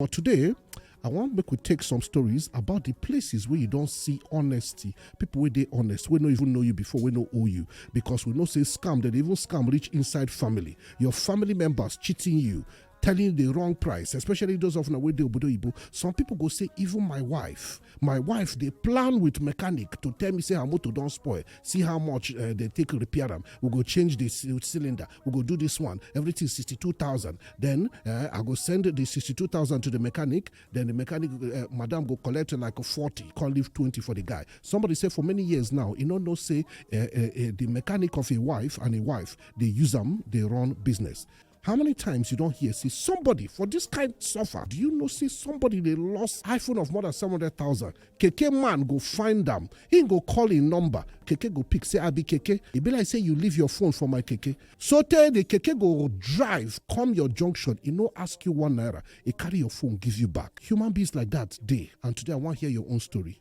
But today, I want make we take some stories about the places where you don't see honesty. People where they honest, we no even know you before, we no owe you. Because we know say scam, they even scam reach inside family. Your family members cheating you, telling the wrong price, especially those of Nawe Obodo Ibo. Some people go say, even my wife my wife dey plan with mechanic to tell me say her motor don spoil see how much uh, they take repair am we go change the cylinder we go do this one everything sixty two thousand then uh, i go send the sixty two thousand to the mechanic then the mechanic uh, madam go collect like forty come leave twenty for the guy somebody say for many years now you no know say the mechanic of a wife and a wife dey use am dey run business How many times you don't hear see somebody for this kind suffer? Do you know see somebody they lost iPhone of more than 700,000? KK man go find them. He go call in number. KK go pick say I be KK. He be like say you leave your phone for my KK. So tell the KK go drive come your junction. He no ask you one naira. He carry your phone give you back. Human beings like that day. And today I want to hear your own story.